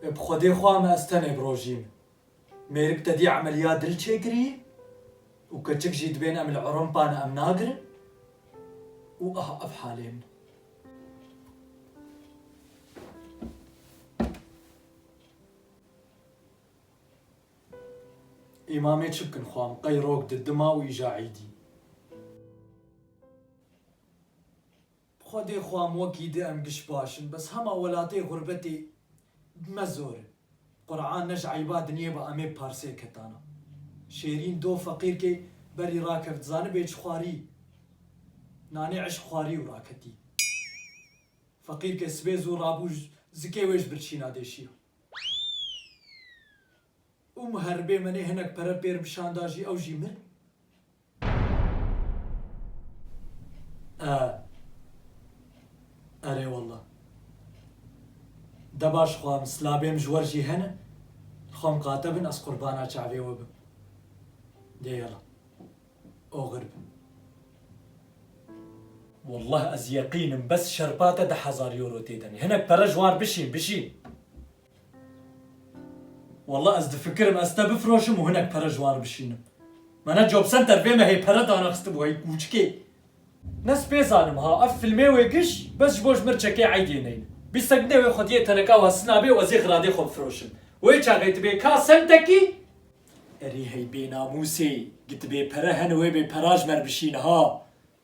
Bi xwedê xwe me ez tenê birojîm. Mêrik te dî emeliya dil çêkirî û keçik jî dibên em li Ewropa ne em nagirin û ah ev halê min. Î mamê çi bikin xwe em qey rok di dima û îja îdî. Bi xwedê xwe em wekî di em giş baş in bes hema welatê xurbetê bi me zor in. Qur'an ne ji eyba dinyê ba em ê bi parsê ketana. Şêrîn do feqîrkê berî rakevt zanibê çi xwarî? Nanê eşq xwarî û raketî. Feqîrkê sibê zû rabû zikê wê ji birçîna dê şiya. Û muheribê me nê hinek pere pêr bi şan da jî ew jî mir. E, erê walla. De baş xwe em silabê em ji wer jî hene, li xwe em qate bin ez qurbana çavê we bim. Dê yala. Oxir bi. Wallah ez yeqîn im bes şerpa te deh hezar euro tê demê. Hinek pere ji wan bişîn, bişîn. Wallah ez difikirim ez te bifroşim û hinek pere ji wan re bişînim. Me ne job center vê me hê pere dana xistibû hey kûçikê. Ne spê zanim ha ev filmê wê giş bes ji bo ji mir çekê eydê neyne. Bîst sent nê wê xwediyê teneka wan sina bê û ez ê xiradê xwe bifroşim. Wê çaxê tu bê ka sentekî erê hey bênamûsê gitibê pere hene wê bê pera ji me re bişîne ha.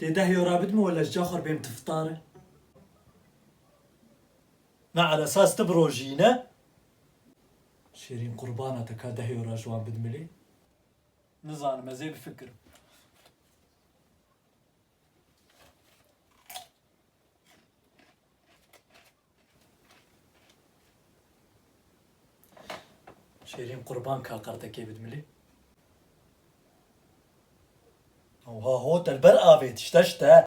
Dê deh euro bidme wele ji caxwar bêm tiftare. Na ala esas ti bi rojî yî ne? Şêrîn qurbana te ka deh euro ji wan bidmilî? Nizanim ez ê bifikirim. Şêrîn qurban ka qertekê bid milê. Oha ho te li ber avê tişte şite.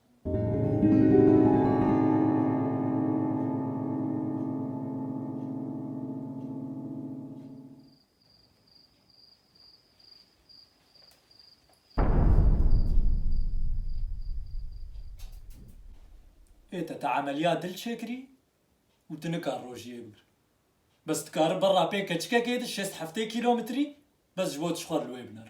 Ê te, te emeliya dil çêkirî û tu nikar rojiyê bigir. Bes dikari berra pê keçikekê de şêst heftê kîlometrî bes ji bo tu ji xwe li wê biner.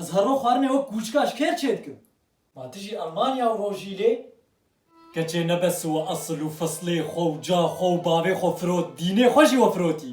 Ez her roj xwarinê wek kûçika ji kêr çêdikim. Ma tu jî Elmanya û rojî lê? Keçê ne bes we esil û fislê xwe û ca xwe û bavê xwe firot, dînê xwe jî we firotî.